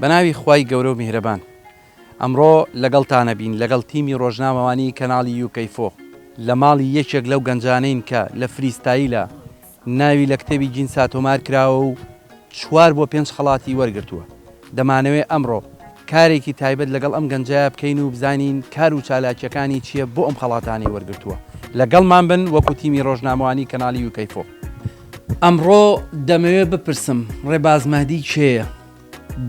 بەناوی خوای گەورە و میهرەبان ئەمڕۆ لەگەڵتانە بین لەگەڵ تیمی ڕۆژنامەوانی کەناڵی یوکەیفۆ لە ماڵی یەکێک لەو گەنجانەین کە لە فریستایلە ناوی لە کتێبی جینسا تۆمار کراوە و چوار بۆ پێنج خەڵاتی وەرگرتووە. دەمانەوێ ئەمڕۆ کارێکی تایبەت لەگەڵ ئەم گەنجە بکەین و بزانین کار و چالاکییەکانی چییە بۆ ئەم خەڵاتانەی وەرگرتووە. لەگەڵمان بن وەکو تیمی ڕۆژنامەوانیی کەناڵی یوکەیفۆ. ئەمڕۆ دەمەوێ بپرسم ڕێباز مەهدی کێیە؟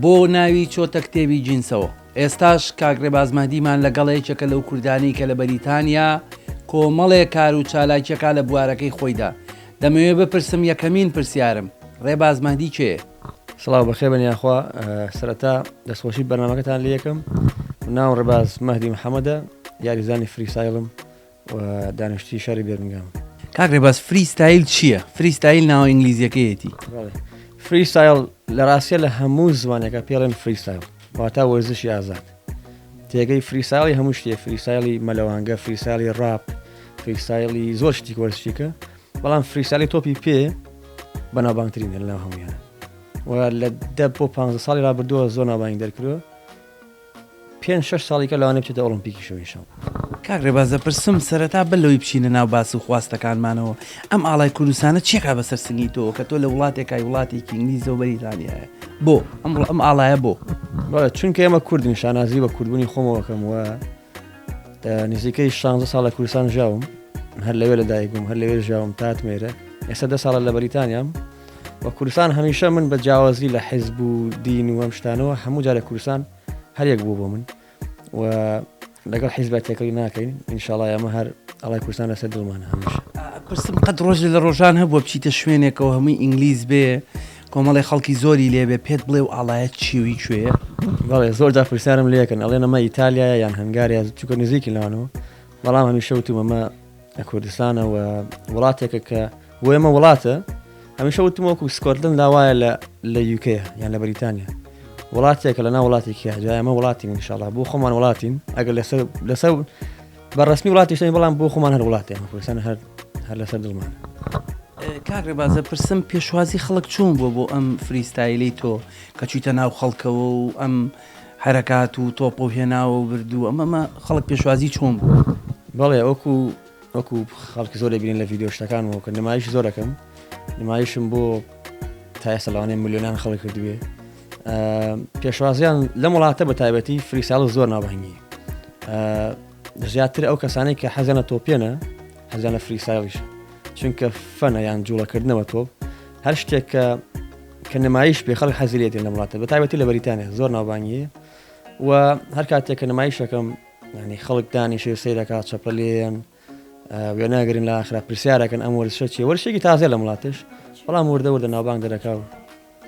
بۆ ناوی چۆتە کتێبی جینسەوە؟ ئێستاش کاک ڕێباز مەهدیمان لەگەڵە یەکێکە لەو کوردانەی کە لە بەریتانیا کۆمەڵێ کار و چالاکی ئەکا لە بوارەکەی خۆیدا دەمەوێ بپرسم یەکەمین پرسیارم ڕێباز مەهدی کێیە؟ سڵاو بەخێر بن یاخوا سەرەتا دەستخۆشی بەرنمەکەتان لەکەم ناو ڕێباز مەهدی محەممەدە یاریزانی فریسایڵم و دانیشتوی شاری بێرمگام. کاک ڕێباز فری ستایل چییە؟ فری ستایل ناوە ئینگلیزیەکەیەتی. فری ستایل لە ڕاستیە لە هەموو زمانەکە پێڵێن فری ستایل واتا وەرزشی ئازاد تێگەی فری ساڵی هەموو شتێ فری سایلی مەلەوانگە فری سالی ڕاپ فری سایلی زۆر شتی وەرزشیکە بەڵام فری سالی تۆپی پێ بەناوبانگترین لە هەمویان و لە دە بۆ پ ساڵی رابردووە زۆر ناوبانگ دەرکرو پێنج شەش ساڵیکە لەوانەیە بچێتە ئۆڵۆمپیکیشەوە انشااللە. کاک ڕێباز دەپرسم سەرەتا بەر لەوەی بچینە ناو باس و خواستەکانمانەوە ئەم ئاڵای کوردستانە چیەکا بەسەر سنگی تۆوە کە تۆ لە وڵاتێکای وڵاتێکی ئینگلیزەو بەریتانیایە بۆ؟ ئەمڕۆ ئەم ئاڵایە بۆ؟ بەڵێ چونکە ئێمە کوردین شانازی بە کوردبوونی خۆمەوە ئەکەم و نزیکەی شانزە ساڵ لە کوردستان ژیاوم هەر لەوێ لەدایک بووم هەر لەوێ ژیاوم تاتمێرە ئێستا دە ساڵە لە بەریتانیام و کوردستان هەمیشە من بە جیاوازی لە حیزب و دین و ئەم شتانەوە هەموو جارە کوردستان هەرێک بوو بۆ من و لەگەڵ حیزبە تێکەڵی ناکەین ئینشاڵای ئەمە هەر ئەڵای کوردستان لەسەر دڵمان هەمیشە پرسم قەت ڕۆژ لە ڕۆژان هەبووە بچیتە شوێنێکەوە هەمووی ئینگلیز بێ کۆمەڵی خەڵکی زۆری لێبێ پێت بڵێ و ئاڵایەت چیوی کوێە بەڵێ زۆر جا پرسیارم لەکەن ئەڵێ نەمە ئیتالیا یان هەنگاریا چکە نزیکی لەوانەوە بەڵام هەمیشە وتومەمە لە کوردستانەوە وڵاتێکە کە بۆ ئێمە وڵاتە هەمیشە وتم وەکو سکۆتلند لاوایە لە لە یوکەیە یان لە بەریتانیا وڵاتێکە لە ناو وڵاتێکی هەجا ئەمە وڵاتی منشاڵا بۆ خۆمان وڵاتین ئەگەر لەسەر لەسەر بە ڕسمی وڵاتی شتین بەڵام بۆ خۆمان هەر وڵاتی ئەمە کوردستان هەر هەر لەسەر دڵمان کاک ڕێبازە پرسم پێشوازی خەڵک چوون بۆ بۆ ئەم فریستایلی تۆ کە چیتە ناو خەڵکەوە و ئەم حرەکات و تۆپە و هێناوە و بردووە ئەمەمە خەڵک پێشوازی چۆن بوو بەڵێ ئەوکو وەکو خەڵک زۆر دەبینن لە ڤیدیۆ شتەکان وەکە نمایش زۆر دەکەم نمایشم بۆ تا ئێستا لەوانەیە ملیۆنان خەڵک کردوێ پێشوازیان لەم وڵاتە بە تایبەتی فریساڵ زۆر نابهنگی زیاتر ئەو کەسانی کە حەزانە تۆپێنە حەزانە فریسایڵیش چونکە فەنە یان جوڵەکردنەوە تۆپ هەر شتێک کە کە نمایش پێ خەڵک حەزیلێتی لە وڵاتە بە تایبەتی لە بەریتانە زۆر ناوبانیە و هەر کاتێک کە نمایشەکەم یانی خەڵک دانیشێ سەیرەکا چەپە لێیەن وێناگرن لە ئاخرا پرسیارەکەن ئەم وەرزشە چیە وەرشێکی تازە لە وڵاتش بەڵام وردە وردە ناوبانگ دەرەکا و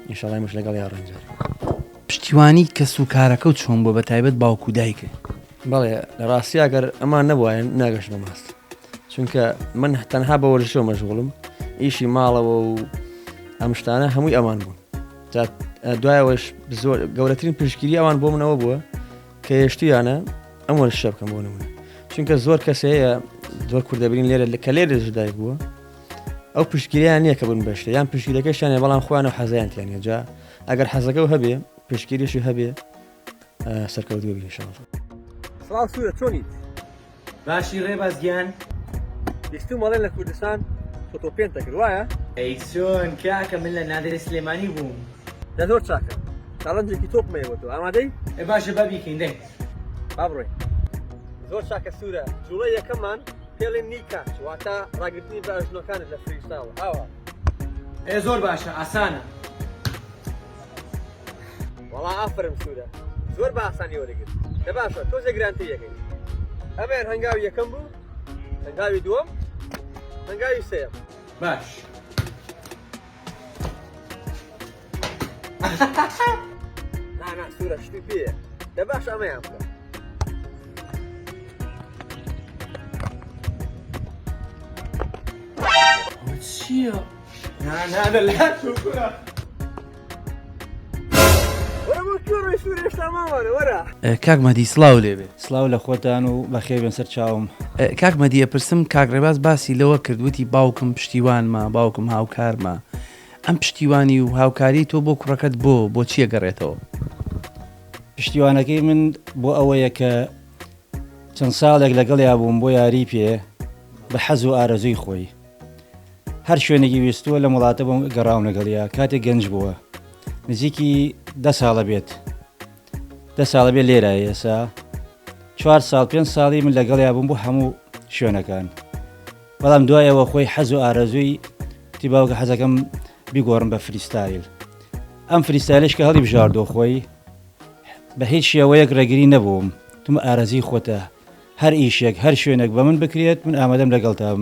نیشاڵای مش لەگەڵ یا ڕەنجار پشتیوانی کەس و کارەکە و چۆن بۆ بە تایبەت باوکو دایکە بەڵێ لە ڕاستی ئەگەر ئەمان نەبواەن ناگەشت بە ماست چونکە من تەنها بە وەرزشە مەشغوڵم ئیشی ماڵەوە و ئەم شتانە هەمووی ئەمان بوون دوایەوەش زۆر گەورەترین پشگیری ئەوان بۆ منەوە بووە کە هێشتویانە ئەم وەرشە بکەم بۆ نمونە چونکە زۆر کەس هەیە زۆر کوردەبرین لێرە لە کە لێرە ژدای بووە ئەو پشتگیریان نییە کە بن بەشتە یان پشتگیرەکەشانە بەڵام خۆیان و حەزیانتیان هێجا ئەگەر حەزەکە و هەبێ پشتگیریشی هەبێ سەرکەوتوە بینشان سڵاو سوورە چۆنیت باشی ڕێباز گیان. بیستوم ئەڵێن لە کوردستان فۆتۆ پێنت دەکرد وایە؟ ئەی چۆن کاکە من لە نادرەی سلێمانی بووم. دە زۆر چاکە چاڵنجێکی تۆپمە ئێوە تۆ ئامادەی؟ ئێ باشە با بیکەین دەنگ. با بڕۆین. زۆر چاکە سورە جوڵەی یەکەممان پێڵێن نی کاچ واتە ڕاگرتنی بە ئەژنۆکانت لە فریستاڵ ئاوا. ئێ زۆر باشە ئاسانە. وەڵا ئافەرم سوورە زۆر بە ئاسانی وەرەگرت دە باشە تۆزێ گرانتی یەکەی ئەمەیان هەنگاو یەکەم بوو هەنگاوی دووەم هەنگاوی سێم باش نانا سوورە شتی پێ دە باش ئەمەیان بکە چییە؟ کاک مەدی سلااو لێبێ سلااو لە خۆتان و بەخێبێن سەر چاوم کاک مەدیە پرسم کاک ڕێباز باسی لەوە کردوتی باوکم پشتیوانمە باوکم هاوکارمە ئەم پشتیوانی و هاوکاری تۆ بۆ کوڕەکەت بۆ بۆ چیە گەڕێتەوە پشتیوانەکەی من بۆ ئەوەیە کە چەند ساڵێک لەگەڵ یابووم بۆ یاری پێ بە حەز و ئارەزووی خۆی هەر شوێنێکی ویستووە لەم وڵاتە بۆم گەڕاوم لەگەڵیا کاتێک گەنج بووە نزیکی دە ساڵە بێت دە ساڵە بێ لێرە ئێسا چوار ساڵ پێ ساڵی من لەگەڵیا بووم بۆ هەموو شوێنەکان بەڵام دوایەوە خۆی حەز و ئارەزووی تی باوکە حەزەکەم بیگۆڕم بە فریستایل ئەم فریستایلش کە هەڵی بژاردۆ خۆی بە هیچ شێوەیەک ڕێگری نەبووم تم ئارەزی خۆتە هەر ئیشێک هەر شوێنێک بە من بکرێت من ئامادەم لەگەڵتام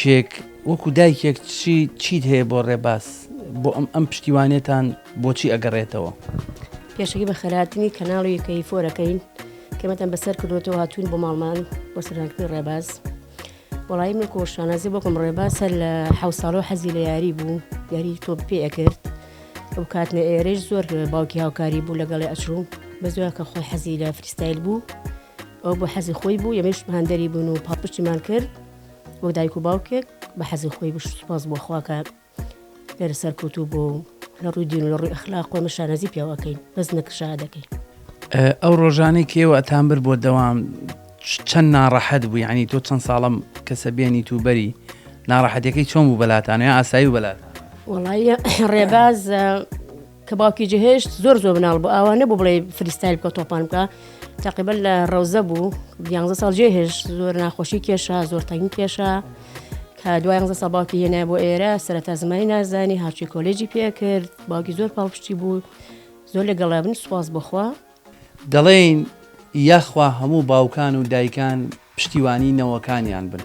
دایکێک وەکو دایکێک چی چیت هەیە بۆ ڕێباز بۆ ئەم ئەم پشتیوانێتان بۆچی ئەگەڕێتەوە پێشەکی بە خەراتنی کەناڵی کەی فۆرەکەین کەمەتان بەسەر کردوەوە هاتوون بۆ ماڵمان بۆ سەرکردنی ڕێباز وەڵایی من کۆ شانازی بۆکم ڕێباسە لە حەو ساڵەوە حەزی لە یاری بوو یاری تۆپ پێ ئەکرد ئەو کاتنە ئێرەش زۆر باوکی هاوکاری بوو لەگەڵی ئەچوو بەزۆر کە خۆی حەزی لە فریستایل بوو ئەو بۆ حەزی خۆی بوو یەمەش هەندەری بوون و پاپشتیمان کرد وەک دایک و باوکێک بە حەزی خۆی بشت سپاس بۆ خواکە لێرە سەرکەوتوو بووە و لە ڕووی دین و لە ڕووی ئەخلاق و ئێمە شانازی پێوە ئەکەین بەس نەک شا دەکەین. ئەو ڕۆژانەی کە ئێوە ئەتانبرد بۆ دەوام چەند ناڕەحەت بوو یعنی تۆ چەند ساڵەم کەسە بێنیت و بەری ناڕەحەتەکەی چۆن بوو بەلاتان یا ئاسایی و بەلات وەڵایە ڕێباز کە باوکی جەهێشت زۆر زۆر مناڵ بوو ئاوا نەبوو بڵێ فریستایل بکە تۆپان بکە تقیبەر لە ڕەوزە بوو یانزە ساڵ جێهێش زۆر ناخۆشی کێشە زۆر تەنگی کێشە کە دوای زە سەباوکی هێنا بۆ ئێرە سەرتا زمانی نازانی هاچی کۆلێجی پێکرد باوکی زۆر پاڵپشتی بوو زۆر لەگەڵابن سوپاس بخوا دەڵێن یاخوا هەموو باوکان و دایکان پشتیوانی نەوەکانیان بن.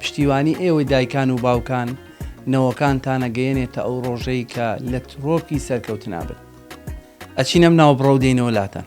پشتیوانی ئێوەی دایکان و باوکان نەوەکانتانە گەیەنێتە ئەو ڕۆژەی کە لە ترۆپکی سەرکەوتنا بن. ئەچین ئەم ناوبڕە و دێینەوە لاتان.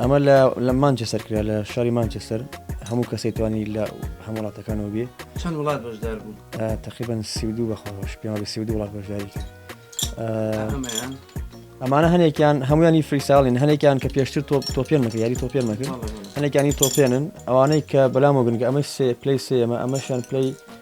ئەمە لە مانچەسەر کرا لە شاری مانچەسەر هەموو کەسێک توانی لە هەموو وڵاتەکانەوە بێ چەند وڵات بەشدار بوو تقریبان سیدو بەخۆش پێ بە سیدو وڵات بەشداری کرد ئەمانە هەنێکیان هەمویانی فریساڵین هەنێکیان کە پێشتر تۆپ تۆپێن مەکە یاری تۆپێن مەکرد هەنێکانی تۆپێنن ئەوانەی کە بەلام وگنگە ئەمە سێ پلی سێمە ئەمەشیان پلی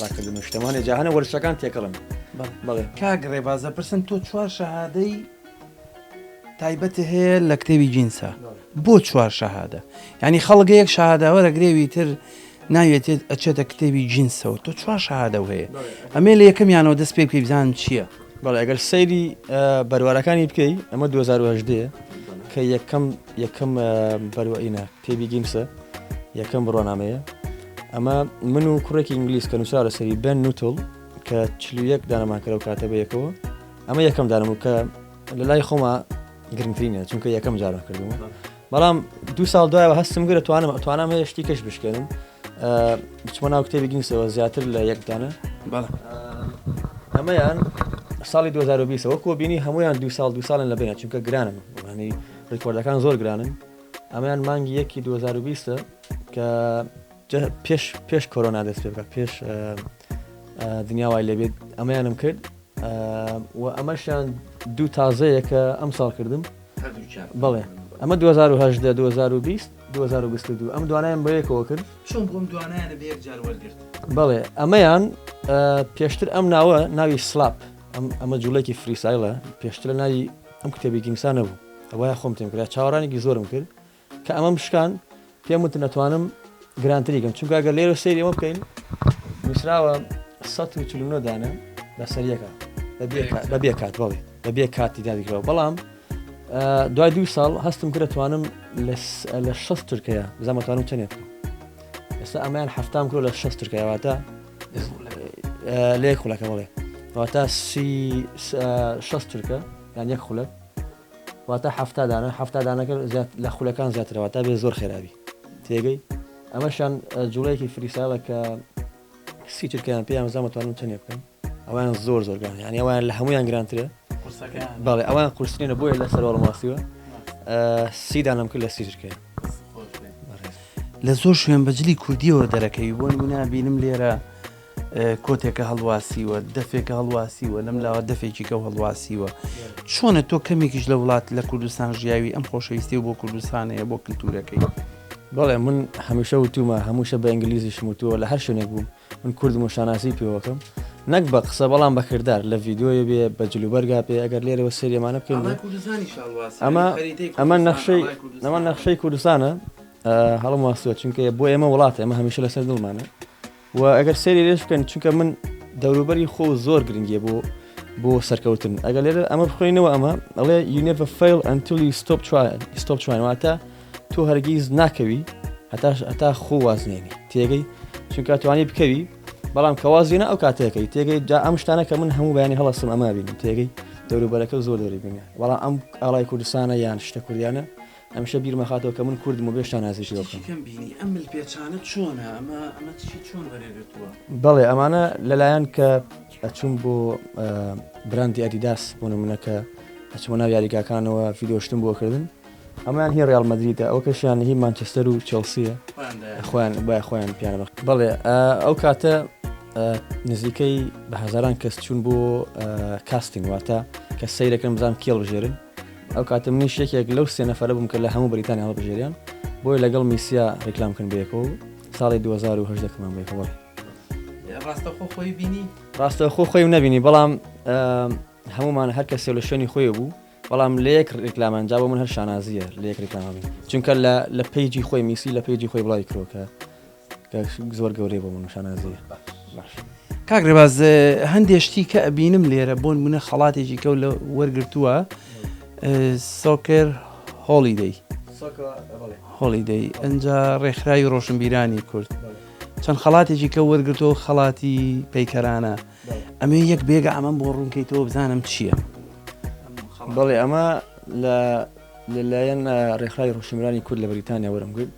ڕاکردن و شتەمانێ جاهانە وەرشەکان تێکەڵن بەڵێ کاک ڕێبازە پرسم تۆ چوار شەهادەی تایبەتە هەیە لە کتێبی جینسا بۆ چوار شەهادە ینی خەڵگە یەک شاداوەرە گرێوی تر ناوێتێت ئەچێتە کتێبی جینسەوە تۆ چوار شادە هەیە ئەمێ لە یەکەمیانەوە دەست پێ پێ بزان چییە بەڵێ ئەگەر سەیری بەروارەکانی بکەی ئەمە 2010 کە یەکەم یەکەم بەروەینە تێبی گیمسە یەکەم بڕوانامەیە ئەمە من و کوڕێکی ئینگلیس کە نووسرا لەسەری بن نوتل کە چلو یەک دانەمان کەرەو کاتە بە یەکەوە ئەمە یەکەم دانم و کە لە لای خۆمە گرنگترینە چونکە یەکەم جارە کردومە بەڵام دو ساڵ دوایەوە هەستم گرە توانم توانام هەیە شتی کەش بشکێنم بچمە ناو کتێبی گینسەوە زیاتر لە یەکدانە ئەمەیان ساڵی 2020ەوە کۆبینی هەمویان دو ساڵ دو ساڵن لە بێنە چونکە گرانم ڕانی ڕیکۆردەکان زۆر گرانن ئەمەیان مانگی یەکی دوو هەزار و بیست کە پێش پێش کۆرۆنا دەست پێ بکە پێش دنیا وای لێبێت ئەمەیانم کرد و ئەمەشیان دوو تازەیە کە ئەم ساڵ کردم بڵێ ئەمە 2010 2020 2022 ئەم دوانایان بە یەکەوە کرد بڵێ ئەمەیان پێشتر ئەم ناوە ناوی سلاپ ئەمە جوڵێکی فریسایلە پێشتر ناوی ئەم کتێبی گینگسا نەبوو ئەوایە خۆم تێم کرا چاوەڕانێکی زۆرم کرد کە ئەمەم شکان پێم وتن نەتوانم گرانتری گەم چونکە گەر لێرە سەیری ئەمە بکەین نووسراوە 1940 دانە لەسەریەکە بە بێ کات بەڵێ بە بێ کاتی دادیکرەوە بەڵام دوای دوو ساڵ هەستم کرە توانم لە شەست ترکەیە بزانمەتوانم چنێت ئێستا ئەمەیان هەفتام کرۆ لە شەست ترکەواتە لێ خولەکە بڵێ واتا سی شەست تورکە یان یەک خولە واتا هەفتا دانە هەفتا دانەکە لە خولەکان زیاترەوە تا بێ زۆر خێراوی تێگەی ئەمەشان جوڵەیەکی فریساڵە کە سی تورکیان پێیان زانمەتوانم چنێ بکەن ئەویان زۆر زۆرگان یان ئەویان لە هەمویان گرانترە بەڵێ ئەوان قورسینە بۆیە لە سەرواڵ ماسیوە سیدانم کرد لە سیجرکە لە زۆر شوێن بە جلی کوردیەوە دەرەکەوی بۆ نمونا بینم لێرە کۆتێکە هەڵواسیوە دەفێکە هەڵواسیوە لەم لاوە دەفێکی کە هەڵواسیوە چۆنە تۆ کەمێکیش لە وڵات لە کوردستان ژیاوی ئەم خۆشەویستی و بۆ کوردستانەیە بۆ کللتورەکەی بەڵێ من هەمیشە وتومە هەمووشە بە ئەنگلیزیشم وتووە لە هەر شوێنێک بووم من کوردم و شانازی پێوەکەم نەک بە قسە بەڵام بە کردار لە ڤیدیۆیە بێ بە جل و بەرگا بێ ئەگەر لێرەوە سەیری ئەمانە بکەین بێ ئەمە ئەمە نەخشەی ئەمە نەخشەی کوردستانە هەڵم واستوە چونکە بۆ ئێمە وڵاتە ئەمە هەمیشە لەسەر دڵمانە و ئەگەر سەیری لێش بکەن چونکە من دەوروبەری خۆ زۆر گرنگیە بۆ بۆ سەرکەوتن ئەگەر لێرە ئەمە بخۆینەوە ئەمە ئەڵێ یونێڤ فیل ئەنتلی ستۆپ چوای ستۆپ چوانواتە تۆ هەرگیز ناکەوی هەتا هەتا خۆ وازنێنی تێگەی چونکە توانی بکەوی بەڵام کە وازێنە ئەو کاتێکەکەی تێگەی جا ئەم شتانە کە من هەموو بەیانی هەڵستم ئەما بینم تێگەی دەوروبەرەکە زۆر دەوری بینە بەڵام ئەم ئاڵای کوردستانە یان شتە کوردیانە ئەمشە بیرمەخاتەوە کە من کوردم و بێشتا نازیشی بکەم بینی ئەم مل پێچانە چۆنە ئەمە ئەمە چی چۆن بەرێگرتووە بەڵێ ئەمانە لەلایەن کە ئەچوم بۆ براندی ئەدیداس بۆ نمونونەکە ئەچمە ناو یاریگاکانەوە فیدۆشتن بۆ کردن هەموان هی ڕیاڵ مەدریدە ئەوکەشیان هی مانچستەر و چێڵسیە خۆیان بای خۆیان پیانە بەخ بەڵێ ئەو کاتە نزیکەی بە هەزاران کەس چوون بۆ کاستین واتە کە سیرەکەم بزان کێڵ بژێرن ئەو کاتە منیش یەکێک لەو سێ نەفرە بووم کە لە هەموو بریتانی هەڵبژێریان بۆی لەگەڵ میسیا ڕیکلام کن بێکۆ ساڵی 2010 کەمان بێکەوە ڕاستەخۆ خۆی بینی ڕاستەخۆ خۆی نبینی بەڵام هەموومان هەر کەسێ لە شوێنی خۆێ بوو بەڵام لە یەک ریکلامە ئەنجا بۆ من هەر شانازیە لە یەک ریکلامە بین چونکە لە لە پەیجی خۆی میسی لە پەیجی خۆی بڵاوی کرۆکە زۆر گەورەی بۆ من شانازیە باش. کاک ڕێباز هەندێ شتی کە ئەبینم لێرە بۆن منە خەڵاتێکی کەو لە وەرگرتووە سۆکر هۆڵیدەی هۆڵیدەی ئەجا ڕێکخراوی ڕۆشنبیرانی کورد چەند خەڵاتێکی کە وەرگرتەوە خەڵاتی پەیکەرانە ئەمەوێ یەک بێگە ئەمەم بۆ ڕوونکەیتەوە بزانم چییە بەڵێ ئەمە لە لەلایەن ڕێکخراوی ڕوشمرانی کورد لە بریتانیا وەرم گرت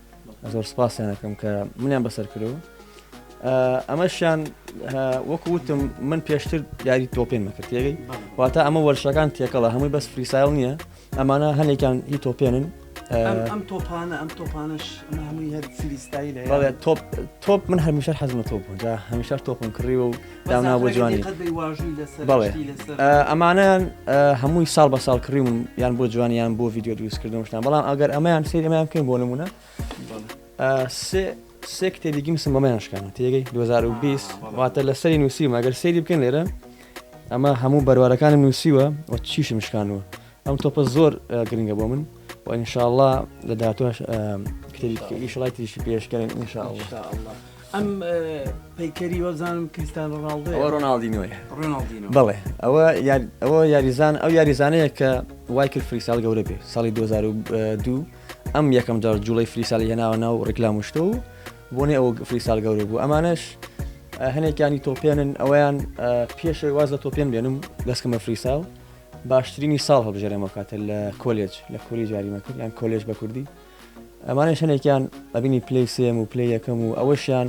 زۆر سپاسیانەکەم کە منیان بەسەر کردەوە ئەمەشیان وەکو وتم من پێشتر یاری تۆپێن مەکرد تێگەی واتە ئەمە وەرشەکان تێکەڵە هەمووی بەس فریسایل نییە ئەمانە هەنێکیان هی تۆپێنن ئەم تۆپانە ئەم تۆپانش هەمووی هەر سریستایی لە بەڵێ تۆپ تۆپ من هەمیشە حەزمە تۆپ بوون جا هەمیشە تۆپم کڕی و دانا بۆ جوانی بەڵێ ئەمانە هەمووی ساڵ بە ساڵ کڕیون یان بۆ جوانیان بۆ ڤیددیو دروستکردنشتان بەڵام ئەگەر ئەمەیان سری ئەمەیان بکەین بۆ نمونە سێ کتێبی گیم سمەمەیان شکانە تێگەی 2020 واتە لە سەری نووسیم ئەگەر سەیری بکەن لێرە ئەمە هەموو بەروارەکانم نووسیوە و چیشم شکانوە ئەم تۆپە زۆر گرنگە بۆ من و ئینشاءله لە داهاتوش کتێبیشڵای تریشی پێشکەن انشاءله ئەم پەیکەری وەزانم کریستان ڕاڵدە ڕۆناالدینۆی بڵێ ئەوە ئەوە یاریزان ئەو یاریزانەیە کە وای کرد فریسال گەورە بێ ساڵی 2002 ئەم یەکەم جار جوڵەی فریسالی هێناوە ناو ڕیکلام و شتە و بۆنێ ئەو فریسال گەورە بوو ئەمانەش هەنێکیانی تۆپێنن ئەویان پێشەوەی واز لە تۆپێن بێنم دەستکەم بە فریساڵ باشترینی ساڵ هەبژێرەمە کاتە لە کۆلێج لە کوری جاریمەکرد یان کۆلێژ بە کوردی ئەمانە شەنێکیان ئەبینی پلی سێم و پلی یەکەم و ئەوەشیان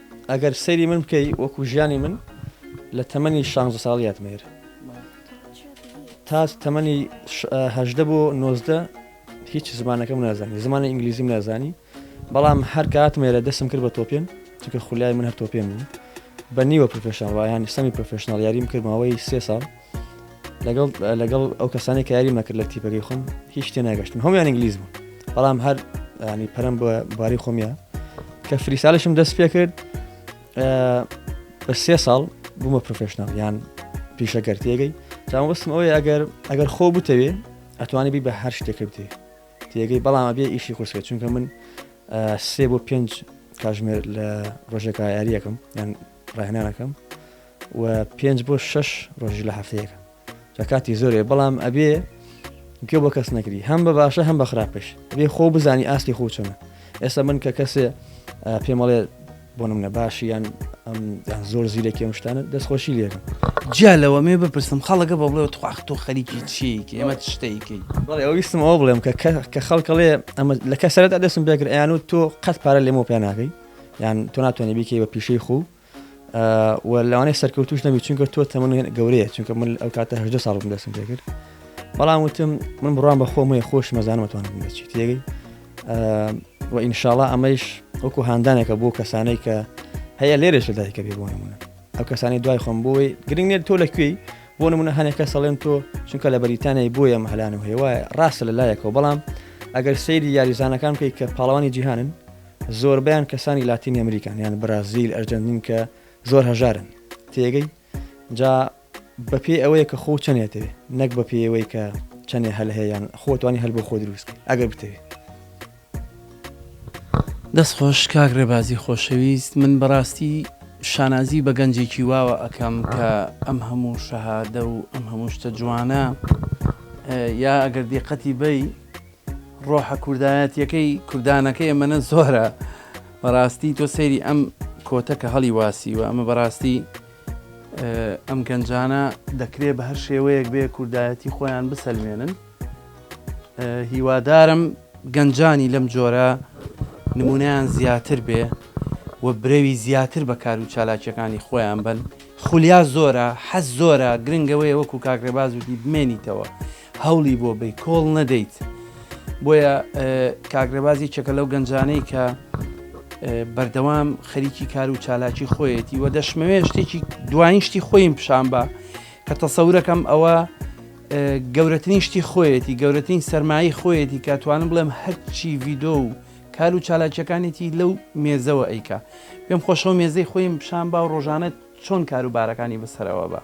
ئەگەر سەیری من بکەی وەکو ژیانی من لە تەمەنی شانزە ساڵیاتمە هێر تا تەمەنی هەدە بۆ نۆزدە هیچ زمانەکەم نازانی زمانی ئینگلیزیم نازانی بەڵام هەر کات مێرە دەسم کرد بە تۆپێن چکە خولای من هەر تۆپێن بوو بە نیوە پرۆفشنڵ وایانی سەمی پرۆفشنناڵ یاریم کردماوەی سێ ساڵ لەگەڵ لەگەڵ ئەو کەسانی کاری مەکرد لە تیپەکەی خۆم هیچ تێ ناگەشتن هەمیان ئینگلیز بوو بەڵام هەر ینی پەرم بە باری خۆمیە کە فریسالشم دەست پێ کرد بە سێ ساڵ بوومە پرۆفشنال یان پیشەکەر تێگەی چاوەستم ئەوەی ئەگەر ئەگەر خۆ بتەوێ ئەتوانی بی بە هەر شتێکرد تێ تێگەی بەڵام بێ ئیشی خۆشکە چونکە من سێ بۆ پێنج کاژمێر لە ڕۆژێکە یاریەکەم یان ڕاهێنانەکەم و پێنج بۆ شەش ڕۆژی لە هەفتەیەک جا کاتی زۆرێ بەڵام ئەبێ گوێ بۆ کەس نەگری هەم بە باشە هەم بە خراپش بێ خۆ بزانی ئاستی خۆ چۆنە ئێستا من کە کەسێ پێمەڵێ بۆ منە باشی یان زۆر زیرەکی ئەم شتانە دەستخۆشی لێرم جیا لەوە مێ بپرسم خەڵەکە بە بڵێ تخواخت تۆ خەریکی چیەکی ئەمە شتێکی بڵێ ئەویستم ئەو بڵێم کە کە خەڵکەڵێ ئەمە لە کەسەرەت دەستم بێگر ئەیان و تۆ قەت پارە لێمە پێناکەی یان تۆ ناتوانێت بیکەی بە پیشەی خۆ و لەوانەیە سەرکەوتوش نەبی چونکە تۆ تەمەن گەورەیە چونکە من ئەو کاتە هەژدە ساڵ بم دەستم پێ کرد بەڵام وتم من بڕام بە خۆم هەیە خۆش مەزانمەتوان بچیت تێگەی و ئینشاالله ئەمەیش وەکو هاندانێکە بۆ کەسانەی کە هەیە لێرەش لە دایکە بێ بۆ نمونە ئەو کەسانی دوای خۆم بۆی گرنگ نێت تۆ لەکوێی بۆ نمونە هەنێکە سەڵێن تۆ چونکە لە بەریتانیای بۆیە مەهلانم هەیە وایە ڕاستە لە لایەکەوە بەڵام ئەگەر سەیری یاریزانەکان بکەیت کە پاڵەوانی جیهانن زۆربەیان کەسانی لاتینی ئەمریکان یان برازیل ئەرجەنتین کە زۆر هەژارن تێگەی جا بەپێی ئەوەیە کە خۆ چەندێتەوێ نەک بە پێیەوەی کە چەندێ هەل هەیەیان خۆتوانی هەل بۆ خۆ دروستکە ئەگەر بتەوێت دەست خۆش کاک ڕێبازی خۆشەویست من بەڕاستی شانازی بە گەنجێکی واوە ئەکەم کە ئەم هەموو شەهادە و ئەم هەموو شتە جوانە یا ئەگەر دیقەتی بی ڕۆحە کوردایەتیەکەی کوردانەکەی ئەمەنە زۆرە بەڕاستی تۆ سەیری ئەم کۆتە کە هەڵی واسیوە ئەمە بەڕاستی ئەم گەنجانە دەکرێت بە هەر شێوەیەک بێ کوردایەتی خۆیان بسەلمێنن هیوادارم گەنجانی لەم جۆرە نمونیان زیاتر بێ و برەوی زیاتر بە کار و چالاکیەکانی خۆیان بن خولیا زۆرە حەز زۆرە گرنگەوەی وەکو کاکرێباز وتی بمێنیتەوە هەولی بۆ بەی کۆڵ نەدەیت بۆیە کاک رێبازی چەکە لەو گەنجانەی کە بەردەوام خەریکی کار و چالاکی خۆیەتی وە دەشمەوێ شتێکی دوایین شتی خۆیم پیشان بە کە تەسەورەکەم ئەوە گەورەترین شتی خۆیەتی گەورەترین سەرمایی خۆیەتی کە توانم بڵێم هەرچی ڤیدۆ و کار و چالاکیەکانێتی لەو مێزەوە ئەیکا پێم خۆشەوە مێزەی خۆیم پیشان با و ڕۆژانەت چۆن کاروبارەکانی بسەرەوە بە.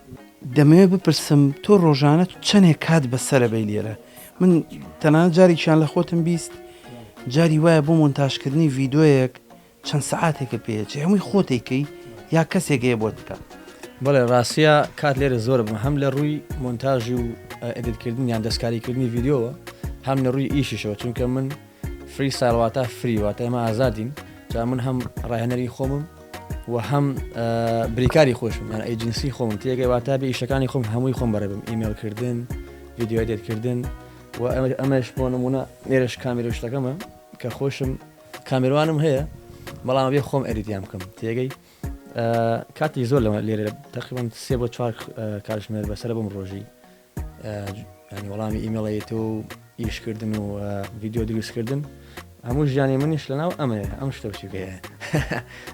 دەمەوێت بپرسم تۆ ڕۆژانە چەنێک کات بەسەرە بەی لێرە؟ من تەنانەت جارێکیان لە خۆتم بیست جاری وایە بۆ مۆنتاژ کردنی ڤیدۆیەک چەند سەعاتێکە پێچێ هەمووی خۆت ئەیکەی یا کەسێک هەیە بۆت بکات؟ بەڵێ ڕاستە کات لێرە زۆرە بم هەم لە ڕووی مۆنتاژ و ئێدیت کردن یان دەستکاری کردنی ڤیدیۆوە هەم لە ڕووی ئیشیشەوە چونکە من فری ستایل واتا فری واتا ئێمە ئازادین جا من هەم ڕاهێنەری خۆمم و هەم بریکاری خۆشم یان ئەیجنسی خۆم تێگەی واتا بێ ئیشەکانی خۆم هەمووی خۆم بەرەبم ئیمێلکردن ویددیوای دێتکردن و ئەمەش بۆ نمونە نێرش کامیرە شتەکەمە کە خۆشم کامیروانم هەیە بەڵام بێ خۆم ئەریدیان بکەم تێگەی کاتی زۆر لەمە لێرە تەقیبم سێ بۆ چوار کارژمێر بەسرە بم ڕۆژی ینی وەڵامی ئیمەڵێت و ئیشکردن و ڤیددیو دروستکردن هەموو ژیانی منیش لەناو ئەمەیە ئەم شتە بچووکەیە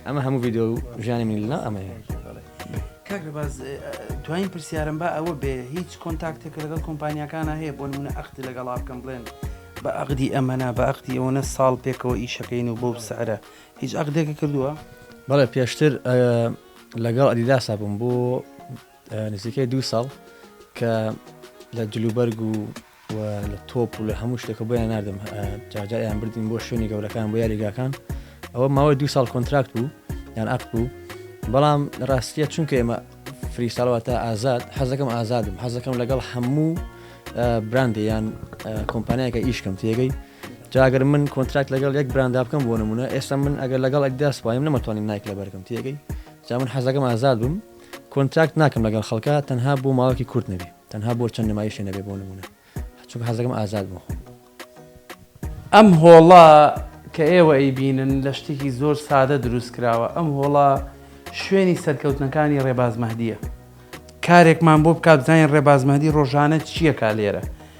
ئەمە هەموو ڤیددیو ژیانی من لەناو ئەمەیە کاکە باز دوایین پرسیارم با ئەوە بێ هیچ کۆنتاکتێک لەگەڵ کۆمپانیەکانە هەیە بۆ منە ئەختی لەگەڵا بکەم بڵێن بە ئەقدی ئەمەە بە ئەختی ئەوەنە ساڵ پێکەوە ئیشەکەین و بۆ سعرە هیچ ئەقدێکی کردووە بەڵێ پێشتر لەگەڵ ئەدیداسا بووم بۆ نزیکەی دوو ساڵ کە لە جلوبەرگ و و لە تۆپ و لە هەموو شتێکە بۆیان نردم جاجایان بردین بۆ شوێنی گەورەکان بۆ یاریگاکان ئەوە ماوەی دو ساڵ کۆنتراکت بوو یان ئەق بوو بەڵام ڕاستیە چونکە ئێمە فری ساڵواتە ئازاد حەزەکەم ئازادم حەزەکەم لەگەڵ هەموو براندێ یان کۆمپانیایەکە ئیشکەم تێگەی جاگەر من کۆنتراکت لەگەڵ یەک براندا بکەم بۆ نمونە ئێستا من ئەگەر لەگەڵ ئەکداس وایم نەمەتوانین نایک لە بەرگم تێگەی جا من حەزەکەم ئازاد بم کۆنتراکت ناکەم لەگەڵ خەڵکا تەنها بۆ ماوەکی کورت نەبێ تەنها بۆ چەند نمایشێ نەبێ بۆ نمونە چونکە حەز دەکەم ئازاد بم خۆم ئەم هۆڵە کە ئێوە ئەیبینن لە شتێکی زۆر سادە دروست کراوە ئەم هۆڵە شوێنی سەرکەوتنەکانی ڕێباز مەهدیە کارێکمان بۆ بکا بزانین ڕێباز مەهدی ڕۆژانە چیەکا لێرە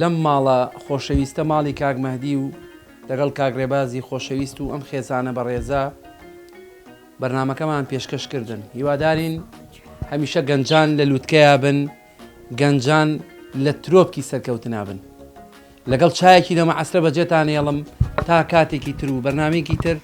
لەم ماڵە خۆشەویستە ماڵی کاک مەهدی و لەگەڵ کاک رێبازی خۆشەویست و ئەم خێزانە بەڕێزە بەرنامەکەمان پێشکەش کردن هیوادارین هەمیشە گەنجان لە لووتکەیا بن گەنجان لە ترۆپکی سەرکەوتنا بن لەگەڵ چایەکی لەمە عسرە بەجێتان هێڵم تا کاتێکی تر و بەرنمێکی تر